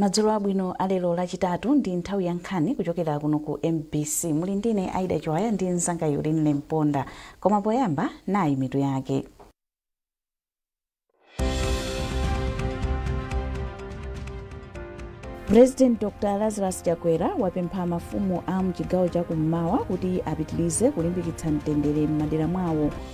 madzulo abwino alero lachitatu ndi nthawi ya nkhani kuchokera kuno ku mbc muli ndine aida chiwaya ndi mzanga Yulin Lemponda koma poyamba nayi mitu yake president dr lazarus chakwera wapempha mafumu a mchigawo cha kummawa kuti apitirize kulimbikitsa mtendere m'madera mwawo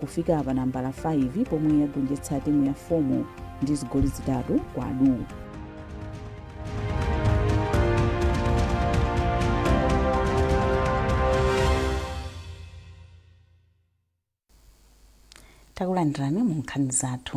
kufika pa nambala 5 pomwe yagonjetsa timu ya FOMO ndi zigoli zitatu kwa du takulandirani mu nkhani zathu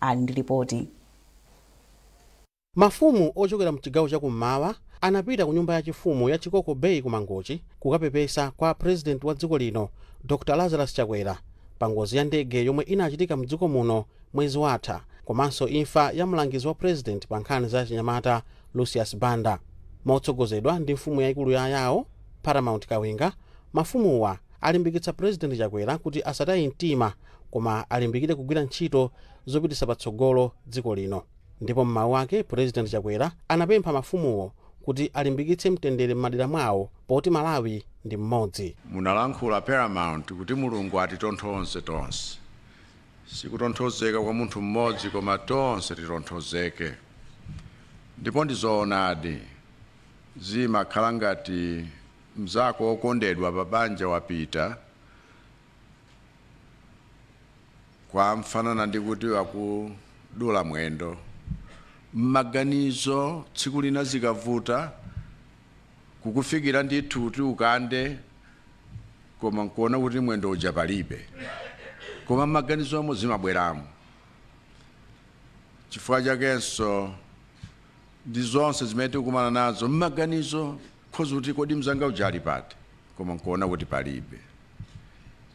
ali ndi lipoti. Mafumu ochokera mchigawo cha kummawa anapita ku nyumba ya chifumu ya Chikoko Bay ku Mangochi kukapepesa kwa President wa dziko lino Dr Lazarus Chakwera pa ngozi ya ndege yomwe inachitika mdziko muno mwezi watha komanso imfa ya mlangizi wa President pa nkhani za achinyamata Lucius Banda. Motsogozedwa ndi mfumu yaikulu ya Ayao, Paramount Kawinga, mafumuwa alimbikitsa President Chakwera kuti asataye mtima koma alimbikire kugwira ntchito zopititsa patsogolo dziko lino. Ndipo m'mawu ake Pulezidenti Chakwera anapempha mafumuwo kuti alimbikitse mtendere m'madera mwawo poti Malawi ndi mmodzi. Munalankhula Paramount kuti Mulungu atitonthoze tonse. Sikutonthozeka kwa munthu mmodzi koma tonse titonthozeke. Ndipo ndi zoonadi, zimakhala ngati mnzako wokondedwa pabanja wapita, kumafanana ndi kuti wakudula mwendo m'maganizo tsiku lina zikavuta kukufikira ndithu kuti ukande koma nkuona kuti mwendo uja palibe koma m'maganizomo zimabweramo chifukwa chakenso ndi zonse zimene tikukumana nazo mmaganizo khoza kuti kodi mzanga uja ali pati koma nkuona kuti palibe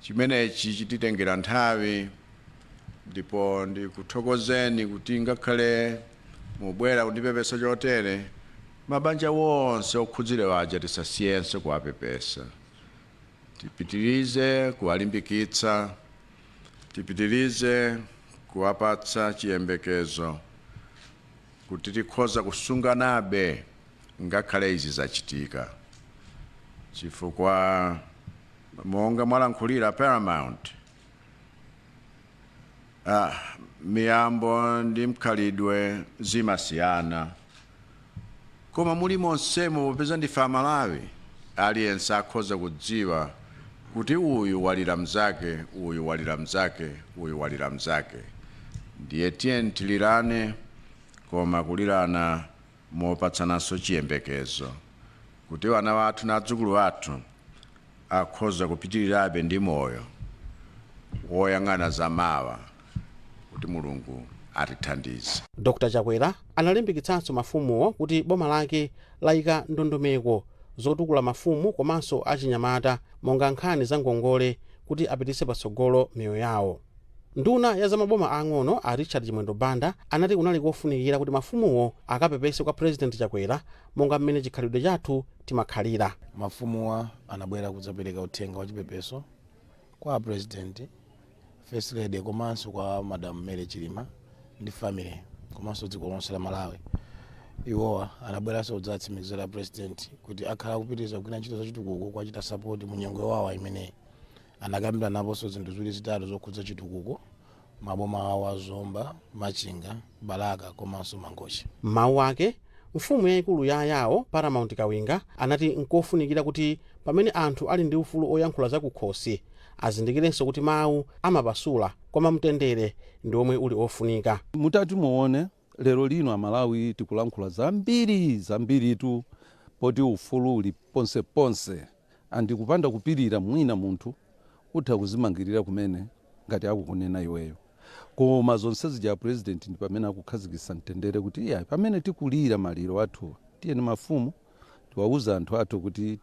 chimenechi chititengera nthawi ndipo ndikuthokozeni kuti ngakhale mubwera kundipepesa chotere mabanja wonse okhudzidwa aja tisasiyense kuwapepesa tipitirize kuwalimbikitsa tipitirize kuwapatsa chiyembekezo kuti tikhoza kusunganabe ngakhale izi zachitika, chifukwa monga mwalankhulira Paramount, ah, miyambo ndi mkhalidwe zimasiyana. Koma muli monsemo popeza ndife a Malawi aliyense akhoza kudziwa kuti uyu walira mzake uyu walira mzake uyu walira mzake ndiye tiyeni tilirane koma kulirana mopatsananso chiyembekezo kuti wana wathu na adzukulu athu akhoza kupitilirabe ndi moyo woyang'ana za mawa. kuti Mulungu atithandize. Dr Chakwera analimbikitsanso mafumuwo kuti boma lake layika ndondomeko zotukula mafumu komanso achinyamata monga nkhani za ngongole kuti apititse patsogolo miyoyo yawo. Nduna ya za maboma aang'ono a Richard Chimwendo Banda anati kunali kofunikira kuti mafumuwo akapepese kwa Purezidenti Chakwera monga mmene chikhalidwe chathu timakhalira. Mafumuwa anabwera kudzapereka uthenga wachipepeso kwa a president first lady komanso kwa madam mary chilima ndi family komanso dziko lonse la malawi iwowa anabweranso kudzatsimikizira president kuti akhala akupitiriza kugwira ntchito zachitukuko kuwachita sapoti mu nyengo yowawa imeneyi anakambiranaponso zinthu ziwiri zitatu zokhudza chitukuko maboma awo a zomba machinga balaka komanso mangochi m'mawu ake mfumu yayikulu ya ayawo paramount kawinga anati nkofunikira kuti pamene anthu ali ndi ufulu oyankhula zakukhosi azindikirenso kuti mawu amapasula koma mtendere ndi omwe uli ofunika mutati muone Lero lino amalawi tikulankhula zambiri zambiritu poti ufulu uli ponse ponse and kupanda kupilira mwina munthu utha kuzimangilira kumene ngati akukunena iweyo koma zonse zija apresident ndipamene akukhazikisa mtendere kuti iyayi pamene tikulira maliro athu tiyeni mafumu Tiwauze anthu athu kuti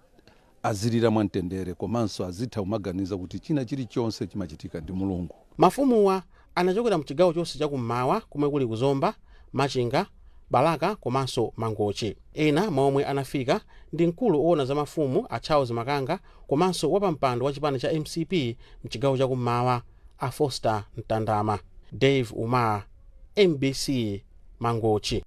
azilira mwamtendere komanso azitha kumaganiza kuti china chilichonse chimachitika ndi Mulungu. Mafumuwa anachokera mchigawo chonse cha kummawa komwe kuli ku Zomba, Machinga, Balaka komanso Mangochi. Ena mwa omwe anafika ndi mkulu owona za mafumu a Charles Makanga komanso wapampando wa chipani cha mcp mchigawo cha kummawa a Foster Mtandama. Dave Umar, mbc, Mangochi.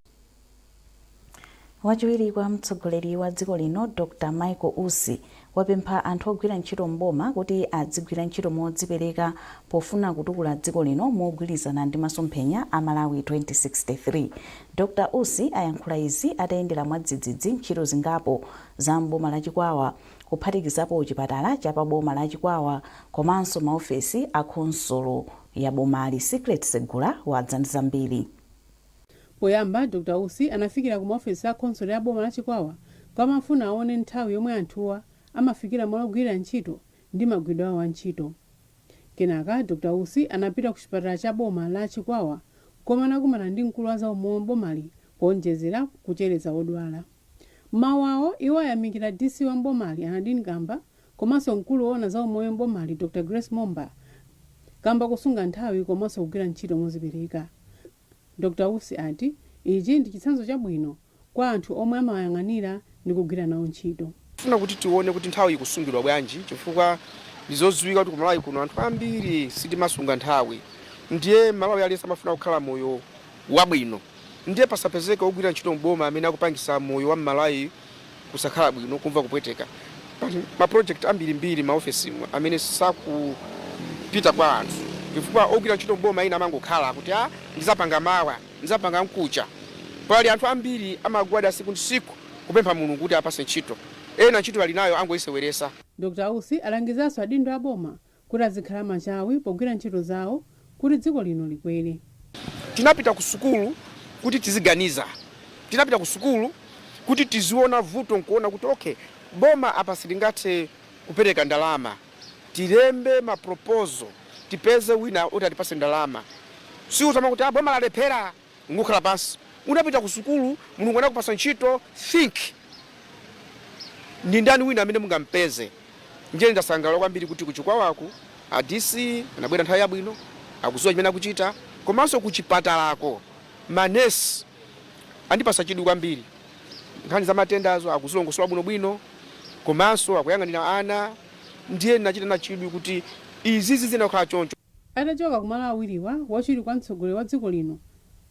Wachiwiri kwa mtsogoleri wa dziko lino Dr Michael Usi wapempha anthu ogwira ntchito m'boma kuti adzigwira ntchito modzipereka pofuna kutukula dziko lino mogwilizana ndi masomphenya a Malawi 2063. Dr Usi ayankhula izi atayendera mwadzidzidzi ntchito zingapo za m'boma la Chikwawa kuphatikizapo chipatala cha pa boma la Chikwawa komanso maofesi a khonsolo ya bomali. Secret Segula wadza ndi zambiri. Poyamba, Dr Usi anafikira ku maofesi a khonsolo ya boma la Chikwawa komwe amafuna awone nthawi yomwe anthuwa amafikira malo ogwirira ntchito ndi magwiridwe awo a ntchito. Kenaka, Dr Usi anapita ku chipatala cha boma la Chikwawa komwe anakumana ndi mkulu wa zaumoyo m'bomali poonjezera kuchereza odwala. M'mawu awo, iwo ayamikira DC wa m'bomali, a Nardin Kamba, komanso mkulu oona za umoyo m'bomali Dr Grace Momba kamba kosunga nthawi komanso kugwira ntchito mozipereka. Dr Usi ati ichi ndi chitsanzo chabwino kwa anthu omwe amawayang'anira ndi kugwira nawo ntchito. Tifuna kuti tione kuti nthawi ikusungidwa bwanji chifukwa ndizoziwika kuti ku Malawi kuno anthu ambiri sitimasunga nthawi ndiye m'Malawi aliyense amafuna kukhala moyo wabwino ndiye pasapezeke ogwira ntchito m'boma amene akupangisa moyo wa m'Malawi kusakhala bwino, kumva kupweteka. Ma project ambirimbiri maofesi amene sakupita kwa anthu chifukwa ogwira ntchito mboma ina amangokhala kuti ah, ndizapanga mawa ndizapanga mkucha. Pali anthu ambiri amagwada siku ndi siku kupempha Mulungu kuti apase ntchito, ena ntchito ali nayo angoyiseweresa. Dr Usi alangizanso adindo a boma kuti azikhala machawi pogwira ntchito zawo kuti dziko lino likwere. Tinapita kusukulu kuti tiziganiza, tinapita kusukulu kuti tiziona vuto nkuona kuti okay, boma apa silingathe kupereka ndalama, tilembe ma proposal tipeze wina oti atipase ndalama. Si kuzamangoti ah, boma lalephera! Nkukhala pansi. Unapita ku sukulu, Mulungu anakupasa ntchito, think, ndi ndani wina amene mungampeze? Ndiye ndasangalala kwambiri kuti ku Chikwawaku a DC anabwera nthawi yabwino, akudziwa chimene akuchita, komanso ku chipatalako ma nurse andipasa chidwi kwambiri. Nkhani za matendazo akuzilongosola bwinobwino komanso akuyang'anira ana. Ndiye ndinachita na chidwi kuti izizi ziyenera kukhala choncho. Atachoka ku malo awiriwa, wachiwiri kwa mtsogoleri wa dziko lino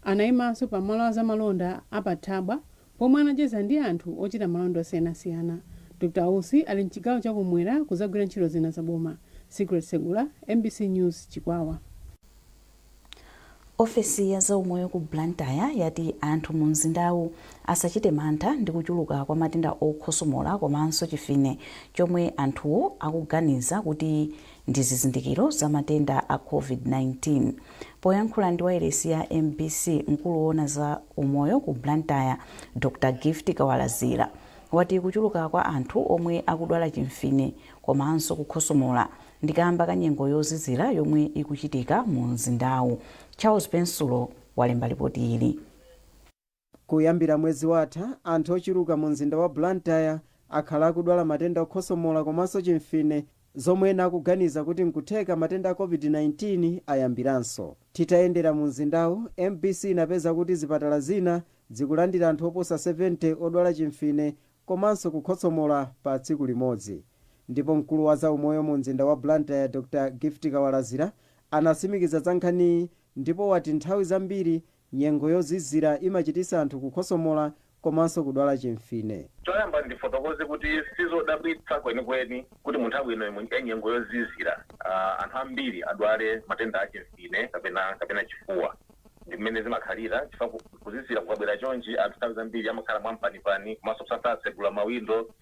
anaimanso pa malo a zamalonda a pa Thabwa pomwe anacheza ndi anthu ochita malonda osiyanasiyana. Dr Usi ali mchigawo cha ku m'mwera kuzagwira ntchito zina za boma. Secret Segula, mbc News, Chikwawa. Ofesi ya zaumoyo ku Blantyre yati anthu mu mzindawu asachite mantha ndi kuchuluka kwa matenda okhosomola komanso chimfine chomwe anthuwo akuganiza kuti ndi zizindikiro za matenda a Covid-19. Poyankhula ndi wailesi ya mbc, mkulu woona za umoyo ku Blantyre, Dr Gift Kawalazira, wati kuchuluka kwa anthu omwe akudwala chimfine komanso kukhosomola ndikamba ka nyengo yozizira yomwe ikuchitika mu mzindawu. Charles Pensulo walemba lipoti ili. Kuyambira mwezi watha, anthu ochuluka mu mzinda wa Blantyre akhala akudwala matenda okhosomola komanso chimfine zomwe ena akuganiza kuti nkutheka matenda a Covid-19 ayambiranso. Titayendera mu mzindawu, mbc inapeza kuti zipatala zina zikulandira anthu oposa 70 odwala chimfine komanso kukhosomola pa tsiku limodzi ndipo mkulu wa za umoyo mu mzinda wa Blantyre Dr Gift Kawalazira anasimikiza za nkhaniyi ndipo wati nthawi zambiri nyengo yozizira imachitisa anthu kukhosomola komanso kudwala chimfine. Choyamba ndifotokoze kuti sizodabwitsa kwenikweni kuti mu nthawi ino ya nyengo yozizira anthu ambiri adwale matenda a chimfine kapena chifuwa. Ndi mmene zimakhalira chifukwa kuzizira kukabwera chonchi anthu nthawi zambiri amakhala mwampanipani komanso kusatsegula mawindo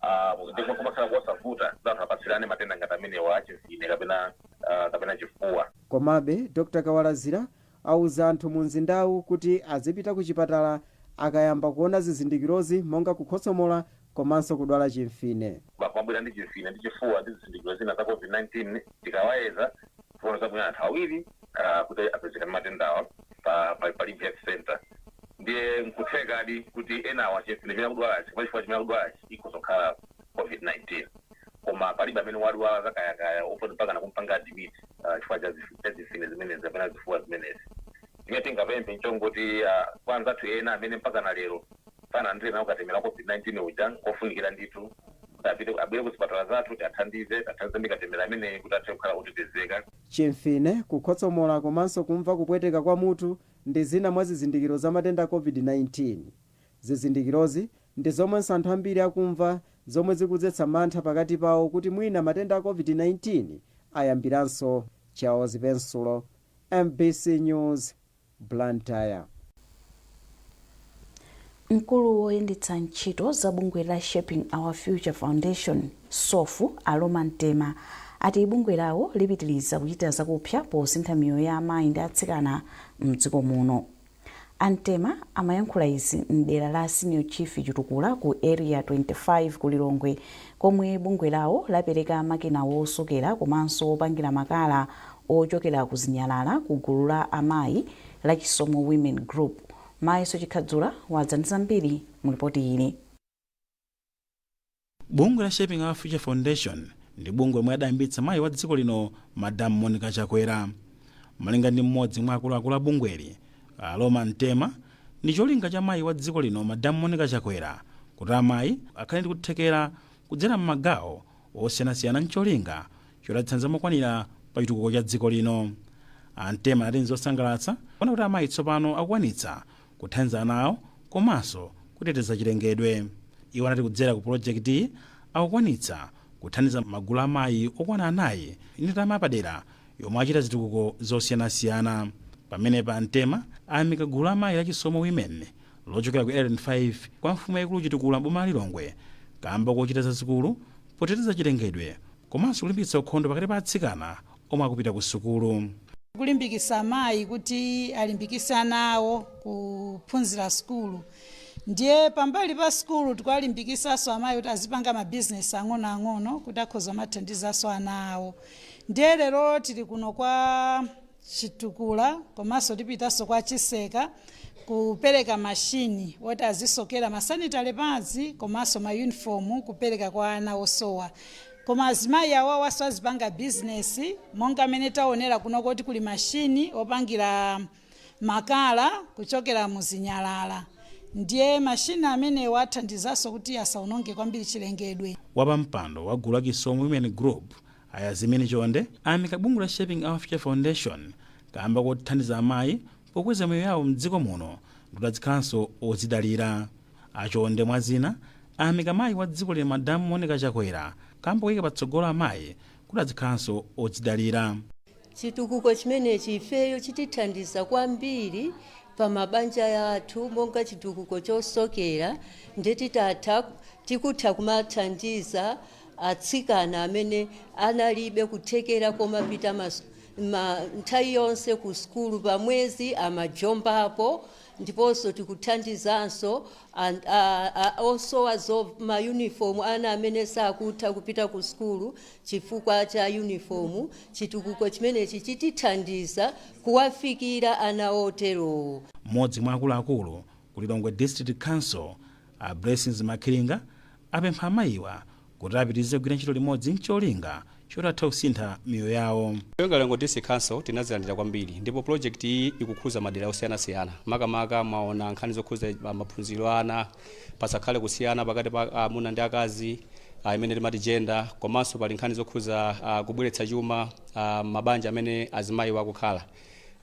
aah ndipo kumakhala kosavuta kuti anthu apatsirane matenda ngati amenewa a chimfine kapena aah kapena chifuwa. Komabe, Dr Kawalazira auza anthu mu mzindawu kuti azipita kuchipatala akayamba kuona zizindikirozi monga kukhotsomola komanso kudwala chimfine. Anthu amabwera ndi chimfine ndi chifuwa ndi zizindikiro zina za COVID-19. Tikawayeza, tiona dzana lino anthu awiri kuti apezeka ndi matendawa pa Limbe Health Centre. Ndiye n'kuthekadi kuti enawa chimfine chimene akudwalachi kapena chifuwa chimene akudwalachi ikhoza kukhala COVID-19. Koma palibe amene wadwala zakayakaya woti mpakana kumupanga admit chifukwa cha zimfine zimenezi kapena zifuwa zimenezi. Zimene tingapemphe n'chongoti kwa anzathu ena amene mpakana lero sanalandire nawo katemera wa Covid-19 uja nkofunikira ndithu kuti apite abwere kuzipatala zathu tiwathandize tiwathandize ndi katemera ameneyi kuti athe kukhala otetezeka. Chimfine, kukhotsomola komanso kumva kupweteka kwa mutu ndi zina mwa zizindikiro za matenda a Covid-19. Zizindikirozi ndi zomwenso anthu ambiri akumva zomwe zikudzetsa mantha pakati pawo kuti mwina matenda a Covid-19 ayambiranso. Charles Pensulo, mbc News, Blantyre. Mkulu woyendetsa ntchito za bungwe la Shaping Our Future Foundation, sof, a Loma Mtema ati bungwe lawo lipitiliza kuchita zakupsa posintha miyoyo ya amayi ndi atsikana mdziko muno. A Mtema amayankhula izi mdera la Senior Chief Chitukula ku Area 25 ku Lilongwe komwe bungwe lawo lapereka makina wosokera komanso wopangira makala ochokera ku zinyalala ku gulu la amayi la Chisomo Women Group. Mayeso Chikhadzula wadza ndi zambiri mu lipoti ili. Bungwe la Shaping Our Future Foundation ndi bungwe lomwe adayambitsa mayi wa dziko lino Madam Monica Chakwera. Malinga ndi mmodzi mwa akuluakulu a bungweli, a Loma Mtema, ndicholinga cha mayi wa dziko lino Madam Monica Chakwera kuti amayi akhale ndi kuthekera kudzera mmagawo osiyanasiyana ncholinga choti adzithandiza mokwanira pa chitukuko cha dziko lino. A Mtema anati nzosangalatsa kuona kuti amayi tsopano akukwanitsa kuthandiza ana awo komaso kuteteza chilengedwe. Iwo anati kudzera ku pulojekitiyi akukwanitsa kuthandiza magulu a amayi okwana anayi ndi ndalama yapadera yomwe achita zitukuko zosiyanasiyana. Pamenepa a Mtema ayamika gulu la amayi la Chisomo Women lochokera ku Area 5 kwa mfumu yaikulu Chitukula m'boma la Lilongwe kamba kochita zazikulu poteteza chilengedwe komanso kulimbikitsa ukhondo pakati pa atsikana omwe akupita ku sukulu. Tikulimbikisa amayi kuti alimbikise ana awo kuphunzira sukulu ndiye pambali pa sukulu tikuwalimbikisanso amayi kuti azipanga mabizinesi ang'onoang'ono kuti akhoza kumathandizanso ana awo. Ndiye lero tili kuno kwa Chitukula komanso tipitanso kwa Chiseka kupereka machine oti azisokera ma sanitary pads komanso ma uniform kupereka kwa ana osowa. Koma azimayi awawanso azipanga business monga mmene taonera kuno kuti kuli machine opangira makala kuchokera mu zinyalala ndiye mashini amenewa athandizanso kuti asaononge kwambiri chilengedwe. Wapampando wa gulu la Chisomo Women Group, a Yazimini Chonde, ayamika bungwe la Shaping Our Future Foundation kaamba kothandiza amayi pokweza miyoyo yawo m'dziko muno ndikuti azikhalanso odzidalira. A Chonde mwa zina ayamika mayi wa dziko lino Madam Monica Chakwera kaamba koyika patsogolo amayi kuti azikhalanso odzidalira. Chitukuko chimenechi ifeyo chitithandiza kwambiri pa mabanja athu monga chitukuko chosokera nde titatha tikutha kumathandiza atsikana amene analibe kuthekera kumapita mas- ma- nthawi yonse ku sukulu pamwezi amajombapo ndiponso tikuthandizanso an, a, a, osowa zo, mayunifomu ana amene sakutha kupita ku sukulu chifukwa cha yunifomu chitukuko chimenechi chitithandiza kuwafikira ana oterowo. Mmodzi mwa akuluakulu ku Lilongwe District Council A Blessings Makhiringa apempha amayiwa kuti apitirize kugwira ntchito limodzi n'cholinga choti athe kusintha miyoyo yawo. Ife ku Lilongwe District Council tinazilandira kwambiri ndipo project iyi ikukhuza madera osiyanasiyana makamaka mwaona nkhani zokhuza ma- maphunziro a ana pasakhale kusiyana pakati pa amuna ndi akazi ah, imene timati gender komanso pali nkhani zokhuza ah, kubweretsa chuma ah, mabanja amene azimayiwa akukhala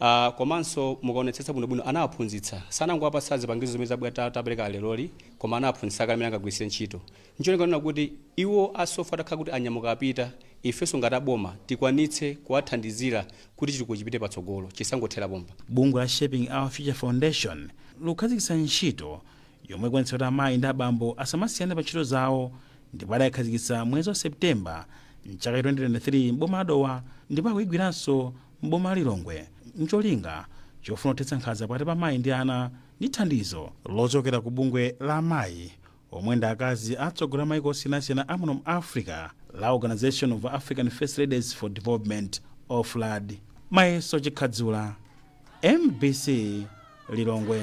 Uh, komanso mukaonetsetsa bwinobwino anawaphunzitsa sanangowapatsa zipangizo zimene zabwera ta- tapereka leroli koma anawaphunzitsa kale mmene angagwiritse ntchito ncholinga kunena kuti iwo a SOFF atakhala kuti anyamuka apita ifenso ngati aboma tikwanitse kuwathandizira kuti chitukuko chipite patsogolo chisangothera pompa bungwe la shaping our future foundation likukhazikitsa ntchito yomwe ikuonetsa kuti amayi ndi abambo asamasiyane pa ntchito zawo ndipo adayikhazikitsa mwezi wa septemba mchaka cha 2023 m'boma la dowa ndipo akuyigwiranso m'boma la Lilongwe n'cholinga chofuna kuthetsa nkhanza pakati pa amayi ndi ana ndi thandizo lochokera ku bungwe la amayi omwe ndi akazi atsogoleri a maiko osiyanasiyana a muno mu Africa la Organisation of African First Ladies for Development, Oflad. Mayeso Chikhadzula, mbc Lilongwe.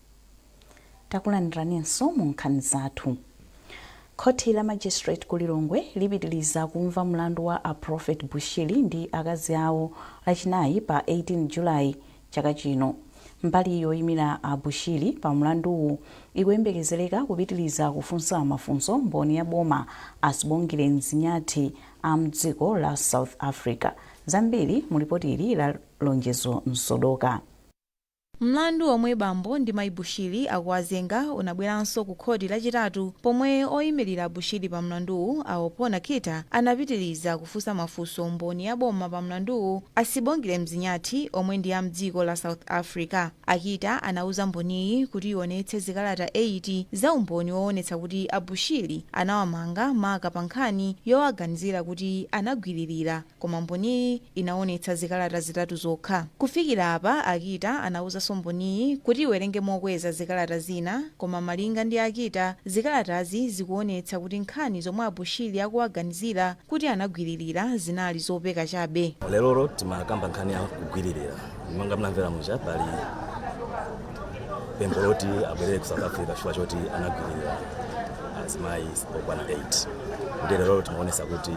Takulandiraninso mu nkhani zathu. Khoti la Magistrate ku Lilongwe lipitiliza kumva mlandu wa a Prophet Bushiri ndi akazi awo lachinayi pa 18 July chaka chino. Mbali yoimira a Bushiri pa mlanduwu ikuyembekezeleka kupitiliza kufunsa mafunso mboni ya boma a Sibongile Mzinyathi a mdziko la South Africa. Zambiri mu lipoti ili la Lonjezo Msodoka. Mlandu omwe bambo ndi mayi Bushiri akuwazenga unabweranso ku khoti lachitatu pomwe oyimilira a Bushiri pa mlanduwu a Wapona Kita anapitiliza kufunsa mafunso mboni ya boma pa mlanduwu a Sibongile Mzinyathi omwe ndi a mdziko la South Africa. A Kita anauza mboniyi kuti iwonetse zikalata 8 za umboni wowonetsa kuti a Bushiri anawamanga maka pa nkhani yowaganizira kuti anagwililira. Koma Mboniyi inaonetsa zikalata zitatu zokha. Kufikira apa, a Kita anauzanso Mboniyi kuti iwerenge mokweza zikalata zina, koma malinga ndi a Kita, zikalatazi zikuonetsa kuti nkhani zomwe a Bushiri akuwaganizira kuti anagwiririra zinali zopeka chabe. Lerolo timakamba nkhani ya kugwiririra. Monga munamvera muja, pali pempho loti abwerere ku South Africa chifukwa choti anagwiririra azimayi okwana 8. Ndiye lerolo timaonetsa kuti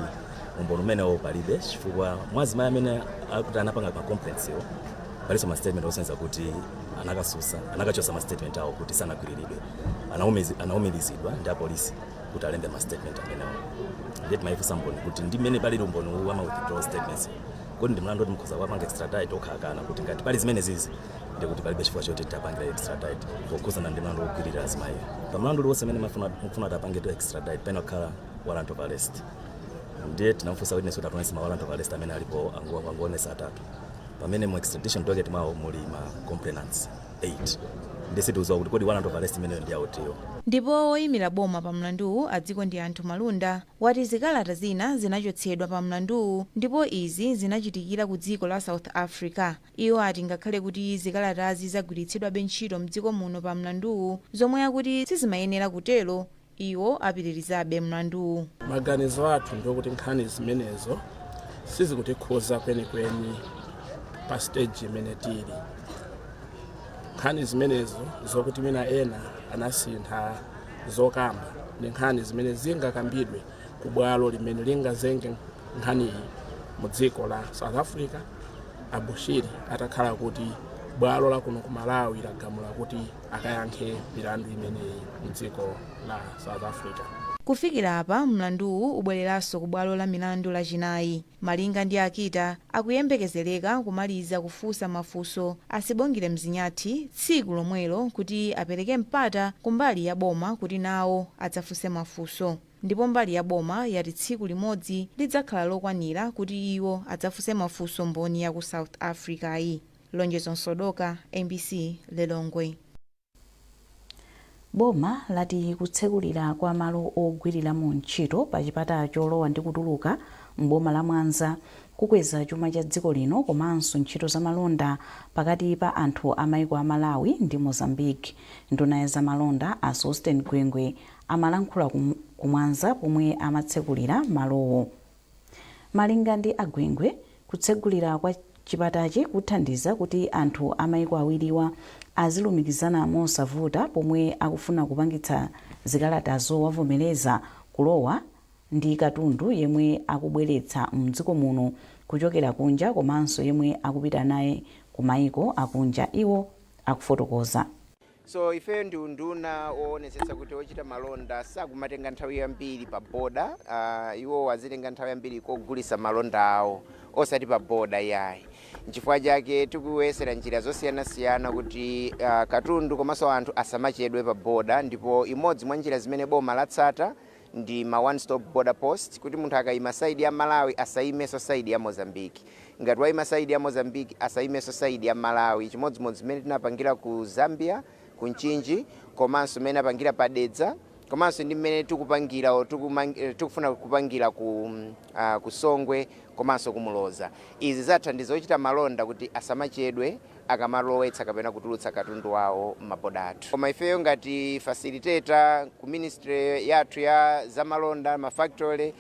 umboni umenewo palibe chifukwa mwa azimayi amene akuti anapanga ma complaints yo palinso ma statement osonyeza kuti anakatsutsa anakachosa ma statement awo kuti sanagwiriridwe Anaumizi- anaumirizidwa ndi apolisi kuti alembe ma statement amenewo ndiye timayifunsa mboni kuti ndi mmene palili umboni uwu wa ma withdrawal statements kodi ndi mlandu woti mukhoza kuwapanga extradite akukana kuti ngati pali zimenezizi ndi kuti palibe chifukwa choti tapangira extradite pokhudzana ndi mlandu wogwirira azimayi pa mlandu uliwonse amene mafuna mufuna tapange to extradite pena kukhala warrant of arrest ndiye tinamfunsa witness kuti ationese ma warrant of arrest amene alipo angu- anguonesa atatu pamene mu extradition docket mwawo muli ma complainants 8 ndiye sitiuziwa kuti kodi warrant of arrest imeneyo ndi yautiyo ndipo woyimira boma pa mlanduwu a Dzikondianthu Malunda wati zikalata zina zinachotsedwa pa mlanduwu ndipo izi zinachitikira ku dziko la south africa iwo ati ngakhale kuti zikalatazi zagwiritsidwabe ntchito mdziko muno pa mlanduwu, zomwe akuti sizimayenera kutero Iwo apitirizabe mlanduwu. Maganizo athu ndi okuti nkhani zimenezo sizikutikhuza kwenikweni pa siteji imene tili. Nkhani zimenezo zokuti mwina ena anasintha zokamba ndi nkhani zimene zingakambidwe ku bwalo limene lingazenge nkhaniyi mu dziko la South Africa, a Bushiri atakhala kuti bwalo la kuno ku Malawi lagamula kuti akayankhe milandu imeneyi mdziko la South Africa. Kufikira apa, mlanduwu ubweleranso ku bwalo la milandu lachinayi. Malinga ndi a Kita, akuyembekezeleka kumaliza kufunsa mafunso a Sibongile Mzinyathi tsiku lomwelo kuti apeleke mpata ku mbali ya boma kuti nawo adzafunse mafunso. Ndipo mbali ya boma yati tsiku limodzi lidzakhala lokwanira kuti iwo adzafunse mafunso mboni ya ku South Africa-yi. Lonjezo Msodoka, mbc Lilongwe. Boma lati kutsekulira kwa malo ogwiriramo ntchito pa chipata cholowa ndi kutuluka m'boma la Mwanza kukweza chuma cha dziko lino komanso ntchito za malonda pakati pa anthu a maiko a Malawi ndi Mozambique. Nduna ya za malonda a Sosten Gwengwe amalankhula ku Mwanza pomwe amatsekulira malowo. Malinga ndi a Gwengwe, kutsegulira kwa chipatachi kuthandiza kuti anthu a maiko awiriwa azilumikizana mosavuta pomwe akufuna kupangitsa zikalata zowavomereza kulowa ndi katundu yemwe akubweretsa mdziko muno kuchokera kunja komanso yemwe akupita naye ku maiko akunja, iwo akufotokoza. So ifeyo ndi unduna woonetsetsa kuti ochita malonda sakumatenga nthawi yambiri pa boda uh, iwo azitenga nthawi yambiri kogulisa malonda awo osati pa boda yayi nchifukwa chake tikuyesera njira zosiyanasiyana kuti uh, katundu komanso anthu asamachedwe pa boda ndipo imodzi mwa njira zimene boma latsata ndi ma one stop border post kuti munthu akaima side ya Malawi asaimenso side ya Mozambique, ngati waima side ya Mozambique asaimenso side ya Malawi, chimodzimodzi mmene tinapangira ku Zambia ku Mchinji komanso mmene apangira pa Dedza komanso ndi mmene tikupangira or tikumang, tikufuna kupangira ku, uh, ku Songwe komanso ku Muloza. Izi zathandiza ochita malonda kuti asamachedwe. akamalowetsa kapena kutulutsa katundu wawo m'maboda athu. Koma ifeyo ngati facilitator ku ministry yathu ya zamalonda, ma factory,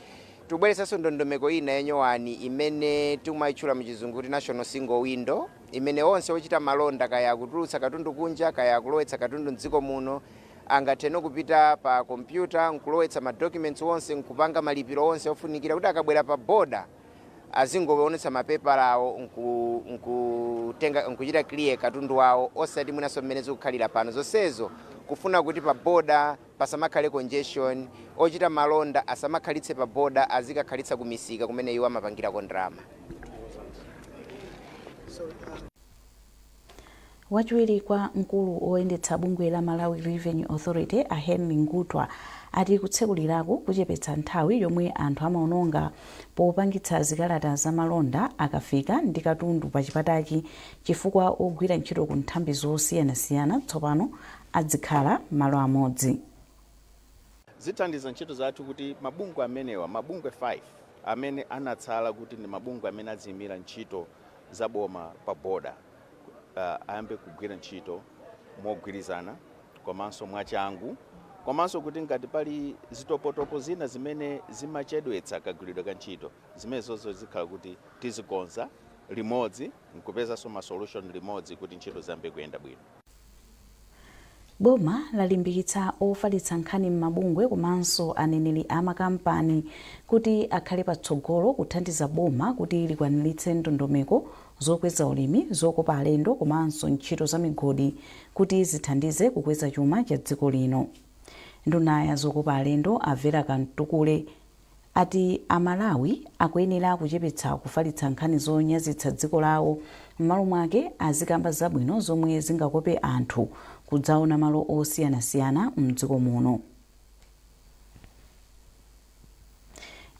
tubweretsanso ndondomeko ina ya nyowani imene timaitchula mu chizungu kuti national single window, imene onse ochita malonda, kaya akutulutsa katundu kunja kaya akulowetsa katundu m'dziko muno, angathe kupita pa kompyuta nkulowetsa ma documents onse nkupanga malipiro onse ofunikira kuti akabwera pa boda, azingoonetsa mapepala awo nkuchita clear katundu wawo osati mwinanso mmene zikukhalira pano zonsezo kufuna kuti pa boda pasamakhale congestion ochita malonda asamakhalitse pa boda azikakhalitsa ku misika kumene iwo amapangirako ndalama Wachiwiri kwa mkulu woyendetsa bungwe la Malawi Revenue Authority, a Henry Ngutwa, ati kutsekuliraku kuchepetsa nthawi yomwe anthu amaononga popangitsa zikalata za malonda akafika ndi katundu pa chipatachi chifukwa ogwira ntchito ku nthambi zosiyanasiyana tsopano adzikhala malo amodzi. Zithandiza ntchito zathu kuti mabungwe amenewa, mabungwe 5 amene anatsala kuti ndi mabungwe amene adziimira ntchito, za boma pa boda ayambe kugwira ntchito mogwirizana komanso mwachangu komanso kuti ngati pali zitopotopo zina zimene zimachedwetsa kagwiridwe ka ntchito zimenezozo zikhala kuti tizikonza limodzi nkupezanso ma solution limodzi kuti ntchito ziyambe kuyenda bwino. Boma lalimbikitsa ofalitsa nkhani m'mabungwe komanso aneneri a makampani kuti akhale patsogolo kuthandiza boma kuti likwaniritse ndondomeko zokweza ulimi, zokopa alendo komanso ntchito za migodi kuti zithandize kukweza chuma cha dziko lino. Nduna ya zokopa alendo a Vera Kamtukule. ati a Malawi akuyenera kuchepetsa kufalitsa nkhani zonyazitsa dziko lawo m'malo mwake azikamba zabwino zomwe zingakope anthu kudzaona malo osiyanasiyana mdziko muno.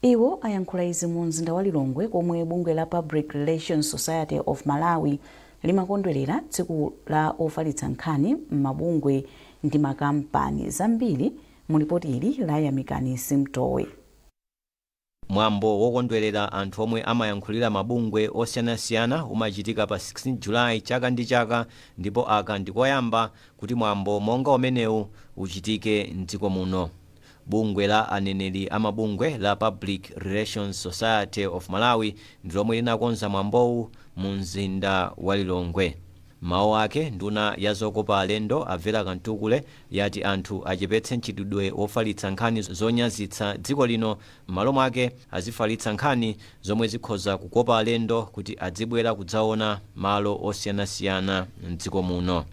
Iwo ayankhula izi mu mzinda wa Lilongwe komwe bungwe la Public Relations Society of Malawi limakondwelera tsiku la ofalitsa nkhani m'mabungwe ndi makampani zambiri Mu lipoti ili la Yamikani Simutowe. Mwambo wokondwelera anthu omwe amayankhulira mabungwe osiyanasiyana umachitika pa 16 July chaka ndi chaka ndipo aka ndi koyamba kuti mwambo monga umenewu uchitike m'dziko muno. Bungwe la aneneri a mabungwe la Public Relations Society of Malawi ndi lomwe linakonza mwambowu mu mzinda wa Lilongwe. M'mawu ake, nduna ya zokopa alendo a Vera Kamtukule, yati anthu achepetse mchitidwe wofalitsa nkhani zonyazitsa dziko lino m'malo mwake azifalitsa nkhani zomwe zikhoza kukopa alendo kuti adzibwera kudzaona malo osiyanasiyana m'dziko muno.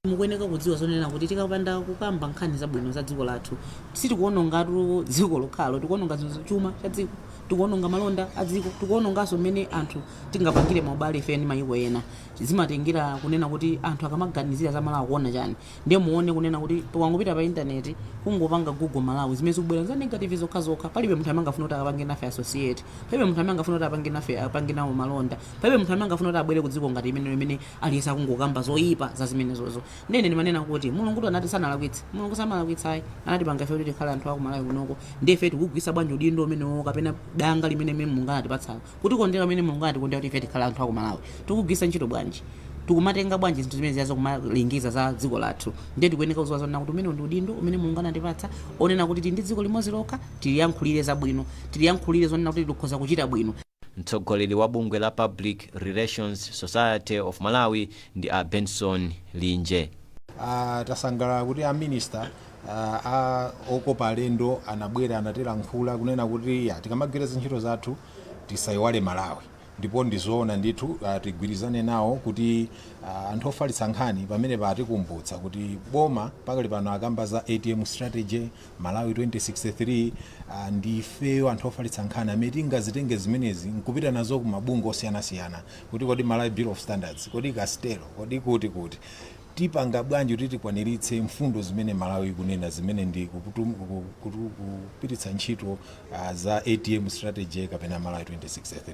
Mukuyeneka kudziwa zonena kuti tikapanda kukamba nkhani zabwino za dziko lathu sitikuonongatu dziko lokhalo, tikuononga chuma cha dziko, tikuononga malonda a dziko, tikuononganso mmene anthu tingapangire maubale ife ndi mayiko ena. Zimatengera kunena kuti anthu akamaganizira za Malawi akuona chani? Ndiye muone kunena kuti ukangopita pa internet kungopanga google Malawi zimene zikubwera nza negative zokhazokha palibe munthu amene angafune kuti akapange nafe associate palibe munthu amene angafune kuti apange nawo malonda palibe munthu amene angafune kuti abwere ku dziko ngati imene aliyense akungokamba zoyipa za zimenezozo ndiye ine ndimanena kuti mulungutu anati sanalakwitse mulungu samalakwitsa ayi anatipanga ife kuti tikhale anthu aku Malawi kunoko ndiye ife tikugwiritsa bwanji udindo umenewo kapena danga limene mulungu anatipatsalo Kutikondera kumene Mulungu anatikondera kuti ife tikhale anthu a ku Malawi tikugwiritsa ntchito bwanji? Tikumatenga bwanji zinthu zimenezi kumalengeza za dziko lathu? Ndiye tikuyeneka kuziwa zonena kuti umenewu ndi udindo umene Mulungu anatipatsa onena kuti tili ndi dziko limodzi lokha, tiliyankhulire zabwino, tiliyankhulire zonena kuti likhoza kuchita bwino. Mtsogoleri wa bungwe la Public Relations Society of Malawi ndi a Benson Linje. Tasangalala kuti a Minister okopa alendo anabwera anatilankhula kunena kuti tikamagwira zintchito zathu tisaiwale malawi ndipo ndizoona ndithu ah, tigwirizane nawo kuti ah, anthu ofalitsa nkhani pamene patikumbutsa kuti boma pakali pano akamba za atm strategy malawi 2063 ah, ndi ifeyo anthu ofalitsa nkhani amene tingazitenge zimenezi nkupita nazo ku mabungwe osiyanasiyana kuti kodi malawi bureau of standards kodi castel kodi kuti kuti tipanga bwanji kuti tikwaniritse mfundo zimene Malawi ikunena zimene ndi kupititsa ntchito za ATM strategy kapena Malawi 2063.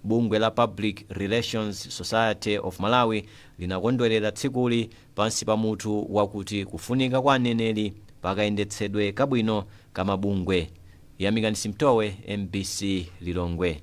Bungwe la Public Relations Society of Malawi linakondwelera tsikuli pansi pa mutu wakuti Kufunika kwa aneneri pa kayendetsedwe kabwino ka mabungwe. Yamikani Simtowe, mbc Lilongwe.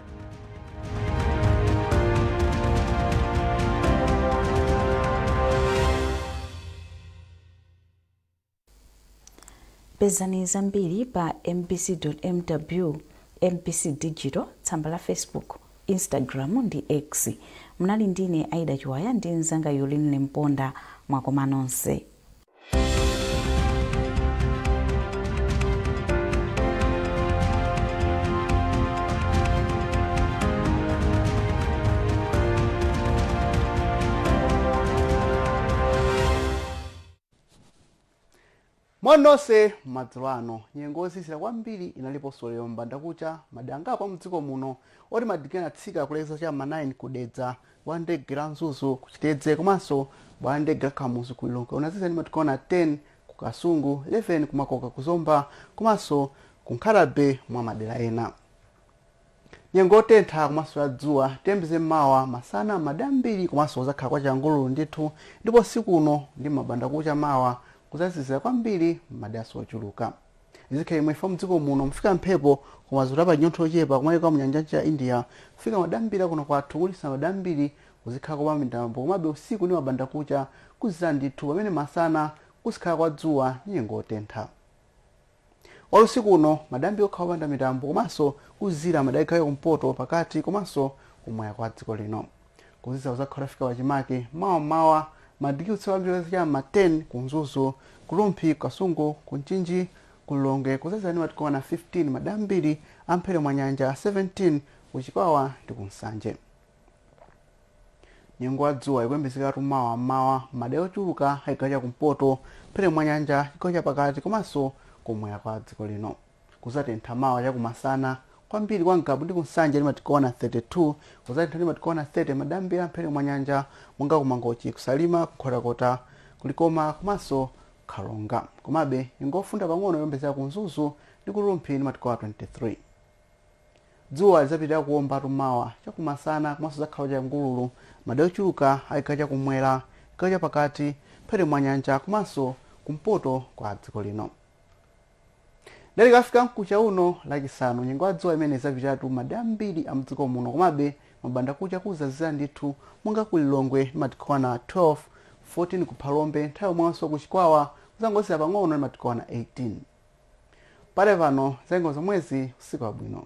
pezani zambiri pa mbc.mw mbc digital tsamba la facebook instagram ndi x munali ndine aida chiwaya ndi mzanga yolin limponda mwakoma nonse moni nonse madzulo ano nyengo yozizira kwambiri inaliponso lero m'bandakucha m'madera angapo mdziko muno oti madigiri anatsika kulekeza cha ma 9 kudedza bwalo la ndege la mzuzu ku chitedze komanso bwalo la ndege la kamuzu ku lilongwe kunazizira ndi madigiri okwana 10 ku kasungu 11 ku makoka ku zomba komanso ku nkhata bay mwa madera ena nyengo yotentha komanso ya dzuwa tiyembekezere mmawa masana madera ambiri komanso kuzakhala kwa changululu ndithu ndipo usiku uno ndi mabanda kucha mawa kuzazizira kwambiri m'madera ochuluka Izi zikhala chomwechi chifukwa mdziko muno mufika mphepo koma zikuti apanyontho ochepa kumayiko amu nyanja ya India kufika madera ambiri a kuno kwathu kuchititsa madera ambiri kuzikhala kopanda mitambo komabe usiku ndi mabanda kucha kuzizira ndithu pamene masana kuzikhala kwa dzuwa ndi nyengo otentha olo usiku uno madera ambiri akhala opanda mitambo komanso kuzizira madera a chigawo cha kumpoto pakati komanso kumwera kwa dziko lino Kuzizira kuzakhala kutafika pachimake mawa m'mawa. Madigiri otsika kwambiri cha m'ma 10 ku Mzuzu, ku Rumphi, ku Kasungu, ku Mchinji, ku Lilongwe kuzazizira ndi madigiri okwana 15 madera ambiri a m'mphepete mwa nyanja 17 ku Chikwawa ndi ku Nsanje. Nyengo ya dzuwa ikuyembekezekatu mawa m'mawa m'madera ochuluka a chigawo cha kumpoto, m'mphepete mwa nyanja, chigawo chapakati komanso kum'mwera kwa dziko lino. Kuzatentha mawa chakumasana kwambiri kwa Ngabu ndi ku Nsanje ndi madigiri okwana 32, kuzatentha ndi madigiri okwana 30 madera ambiri a mphepete mwa nyanja monga ku Mangochi, ku Salima, ku Nkhotakota, ku Likoma komanso ku Karonga. Komabe, nyengo yofunda pang'ono ikuyembekezeka ku Mzuzu ndi ku Rumphi ndi madigiri okwana 23. Dzuwa lizapitilira kuombatu mawa chakumasana komanso kuzakhala kwa changululu madera ochuluka a chigawo cha kummwera, chigawo cha pakati, mphepete mwa nyanja komanso kumpoto kwa dziko lino. Lero ikafika mkucha uno lachisanu nyengo ya dzuwa imeneyi izapitiriratu madera ambiri a mdziko muno komabe mabandakucha kuzazizira ndithu monga ku Lilongwe ndi madigiri okwana 12, 14 ku Phalombe nthawi yomweyonso ku Chikwawa kuzangozizira pang'ono ndi madigiri okwana 18. Padakali pano zanyengo nzomwezi usiku wabwino.